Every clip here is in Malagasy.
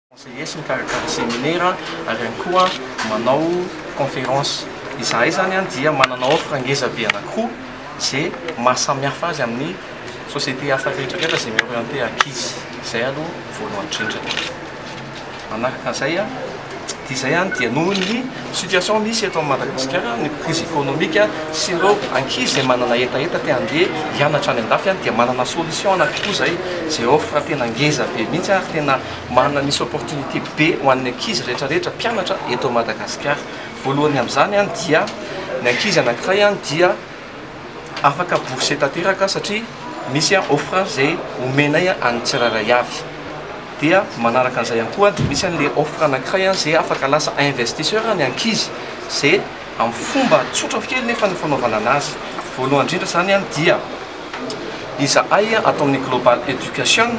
Conseillers mikarakara seminera ary ihany koa manao conférence. Izahay izany dia manana offre ngeza be anankiroa ze maha samy hafa azy amin'ny société hafa rehetra rehetra ze mi-orienter ankizy. Izay aloha voalohany indrindra. Manaraka an'izay, dia izay ihany dia noho ny situation misy eto Madagasikara, ny crise économique sy ireo ankizy izay manana hetaheta te handeha hianatra any andafy dia manana solution na koa izay izay offre tena ngeza be mihitsy ary tena manana misy opportunité be ho an'ny ankizy rehetra rehetra mpianatra eto Madagasikara. Voalohany amin'izany dia ny ankizy anankiray dia afaka bourse tanteraka satria misy offre izay omenay an'ny tsirairay avy dia manaraka an'izay ihany koa dia misy an'ilay offre anankiray izay afaka lasa investisseur ny ankizy izay amin'ny fomba tsotra kely nefa ny fanaovana an'azy voalohany indrindra izany dia izahay ato amin'ny global education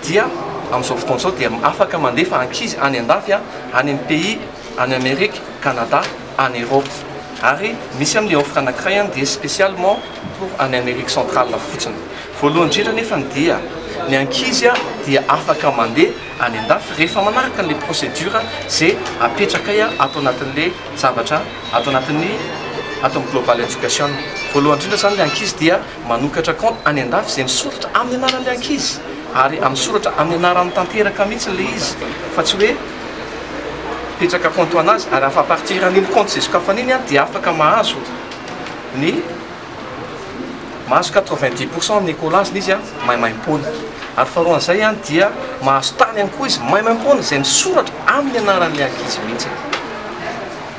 dia amin'izao fotoana izao dia afaka mandefa ankizy any an-dafy any amin'ny pays any Amerika, Canada, any Europe. Ary misy amin'ny offre anankiray any dia spécialement pour any Amerique centrale fotsiny. Voalohany indrindra nefany dia ny ankizy dia afaka mandeha any an-dafy rehefa manaraka an'ilay procédure izay apetrakay ato anatin'ilay zavatra ato anatin'ny ato amin'ny Global Education. Voalohany indrindra izany ilay ankizy dia manokatra compte any an-dafy izay misoratra amin'ny anaran'ilay ankizy ary misoratra amin'ny anarany tanteraka mihitsy ilay izy fa tsy hoe mipetraka compte ho anazy ary afa partir an'iny compte izay sokafany iny dia afaka mahazo ny mahazo quatre vingt dix pourcent amin'ny ecolage-ny izy maimaimpoana ary faharoa an'izay dia mahazo tany ihany koa izy maimaimpoana izay misoratra amin'ny anaran'ny ankizy mihitsy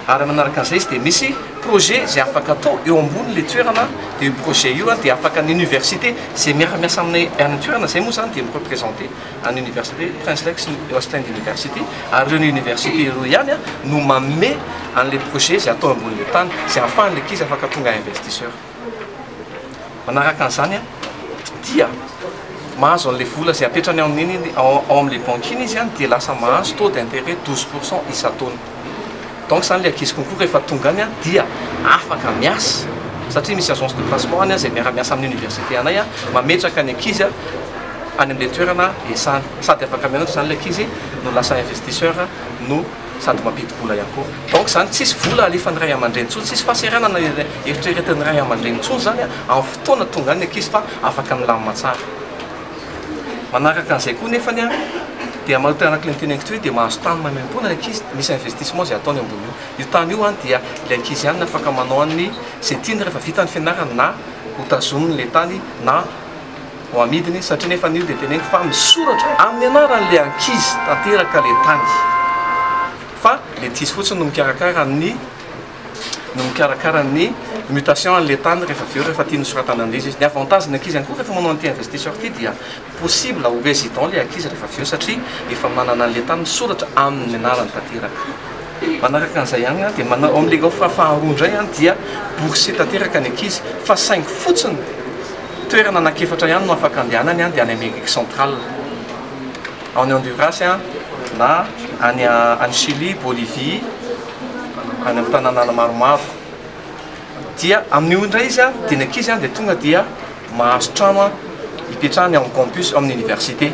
ary manaraka an'izay izy dia misy projet izay afaka atao eo ambonin'le toerana dia io projet io dia afaka ny université izay miara-miasa aminay any an-toerana izay moa izany dia mi-représenter an'ny Oniversite Prince Reg sy ny Östlund University, ary ireo Universite ireo ihany no manome an'ilay projet izay atao ambonin'ilay tany, izay ahafahan'ilay ankizy afaka tonga investisseur. Manaraka an'izany dia mahazo an'ilay vola izay apetrany ao amin'iny, ao amin'ilay banky iny izy dia lasa mahazo taux d'intérêt douze pour cent isan-taona. donc zany le ankizy concours rehefa tonga any dia afaka miasa satria misy agence de placement any zay miara-miasa amin'ny université anay mametraka ny ankizy any amle toerana iasany sady afaka mianatra zany le ankizy no lasa investisseur no sady mampidi-bola ihany koa donc zany tsisy vola alefan'ny ray aman-dreny intsony tsisy fahasahiranana eritreretin'ny ray aman-dreny intsony zany amin'ny fotoana tonga any ny ankizy fa afaka milamina tsara Manaraka an'izay koa nefany ary dia manompa anaty Linkedin Ankitoy io dia mahazo tany maimaimpoana ny ankizy, misy investissement izay ataony ambony io. Io tany io an dia ilay ankizy ihany no afaka manao an' ny izay tiany rehefa vita ny fianarany na ho tazoniny ilay tany na ho amidiny satria nefany io dia teneniko fa misoratra amin'ny anaran'ilay ankizy tanteraka ilay tany fa ilay ankizy fotsiny no mikarakara ny no mikarakara ny mutation an'ilay tany rehefa avy eo rehefa tiany hosoratana an'izy izy. Ny avantage-ny ankizy ihany koa rehefa manao an'ity investisseur ity dia possible ho résident ilay ankizy rehefa avy eo satria efa manana an'ilay tany misoratra amin'ny anarany tanteraka. Manaraka an'izay ihany dia manao ao amin'ilay offre faharoa indray dia bourse tanteraka ny ankizy fa saingy fotsiny toerana anankiefatra ihany no afaka andehanany dia any Amérique centrale, any Honduras na any Chili, Bolivie, any amin'ny tananàna maromaro dia amin'io indray izy a dia ny ankizy any dia tonga dia mahazo trano a hipetrahany ao amin'ny campus amin'ny université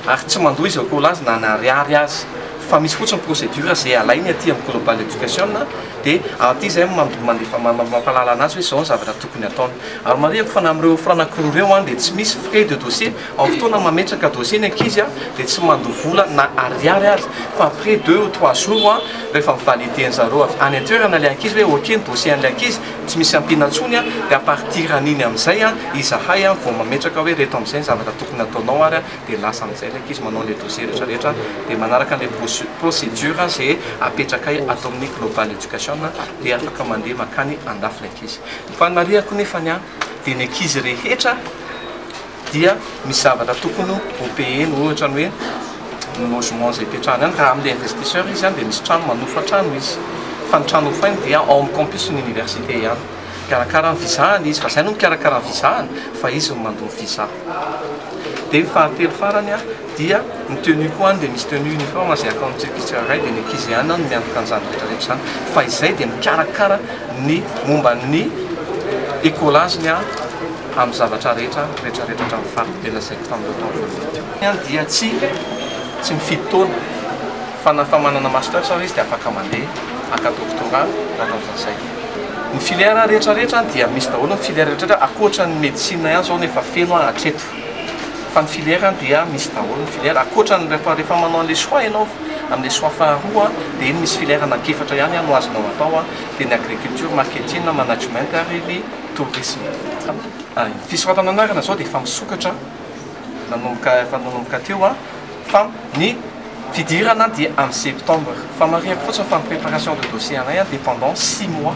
ary tsy mandoa izy akory laza na ny ariary azy fa misy fotsiny procédure izay alainy aty amin'ny global education dia aty izay mandefa mampahalala anazy hoe izao ny zavatra tokony ataony ary marihiko fa na amin'ireo francs ankiroa ireo a dia tsy misy frais de dossier Amin'ny fotoana mametraka dossier ny ankizy dia tsy mandoa vola na ariary aza fa après deux ou trois jours rehefa mi-valider-ny zareo avy any an-toerana ilay ankizy hoe ok ny dossier an'ilay ankizy tsy misy ampiana intsony dia à partir an'iny amin'izay izahay vao mametraka hoe ireto amin'izay ny zavatra tokony hataonao ary dia lasa amin'izay ilay ankizy manao ilay dossier rehetra rehetra dia manaraka an'ilay procédure izay apetrakay ato amin'ny Global Education dia afaka mandeha makany andafy ilay ankizy. Ny fanamariako nefany dia ny ankizy rehetra dia misy zavatra tokony ho payena ohatra ny hoe ny logement izay hipetrahany any raha amle investisseur izy any dia misy trano manofra trano izy fa ny trano hofoiny dia ao amin'ny campus ny université ihany mikarakara ny visa any izy fa izay no mikarakara ny visa any fa izy no mandoa ny visa dia ny fahatelo farany a dia ny tenue koa any dia misy tenue uniforme izay atao amin'ny Turquie tsirairay dia ny ankizy ihany no miantoka an'izany rehetra rehetra izany fa izay dia mikarakara ny momba ny écolage-ny a amin'ny zavatra rehetra retraretra hatramin'ny faritry tena sec tamin'ireo taona voalohany. Ny ahy dia tsy tsy mifidy taona fa na fa manana masters ary izy dia afaka mandeha haka doctorat na atao ohatran'izay. Ny filière rehetra rehetra dia misy daholo ny filière rehetra rehetra ankoatra ny medecine ihany izao no efa feno aho hatreto fa ny filière dia misy daholo ny filière ankoatra ny rehefa rehefa manao an'ilay choix ianao amin'ilay choix faharoa dia iny misy filière anak'efatra ihany no azonao atao dia ny agriculture, marketing, management ary ny tourisme. Ny fisoratana anarana izao dia efa misokatra nanomboka efa nanomboka teo an, fa ny fidirana dia amin'ny septembre. Famarihako fotsiny fa ny préparation de dossier anay an dia pendant six mois.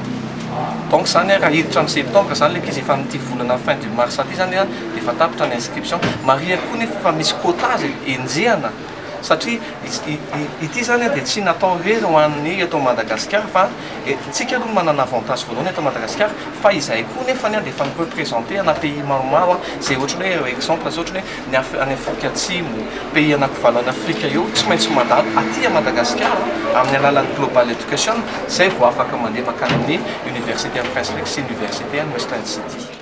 Donc izany an raha hiditra amin'ny septembre izany ilay ankizy efa amin'ity volana fin du mars ity izany an dia efa tapitra ny inscription. Marihiko koa anefa fa misy quota izay enjehana. satria ity izany dia tsy natao hoe ho an'ny eto Madagasikara fa isika aloha no manana avantage voalohany eto Madagasikara fa izay koa nefa dia efa mi representer ana pays maromaro izay ohatran'ny hoe exemple izao ohatran'ny hoe ny any Afrika Atsimo, pays anankivalona any Afrika eo tsy maintsy mandalo aty Madagasikara amin'ny alalan'ny global education izay vao afaka mandeha mankany amin'ny université an'i Prince Raiky sy université an'i Western City.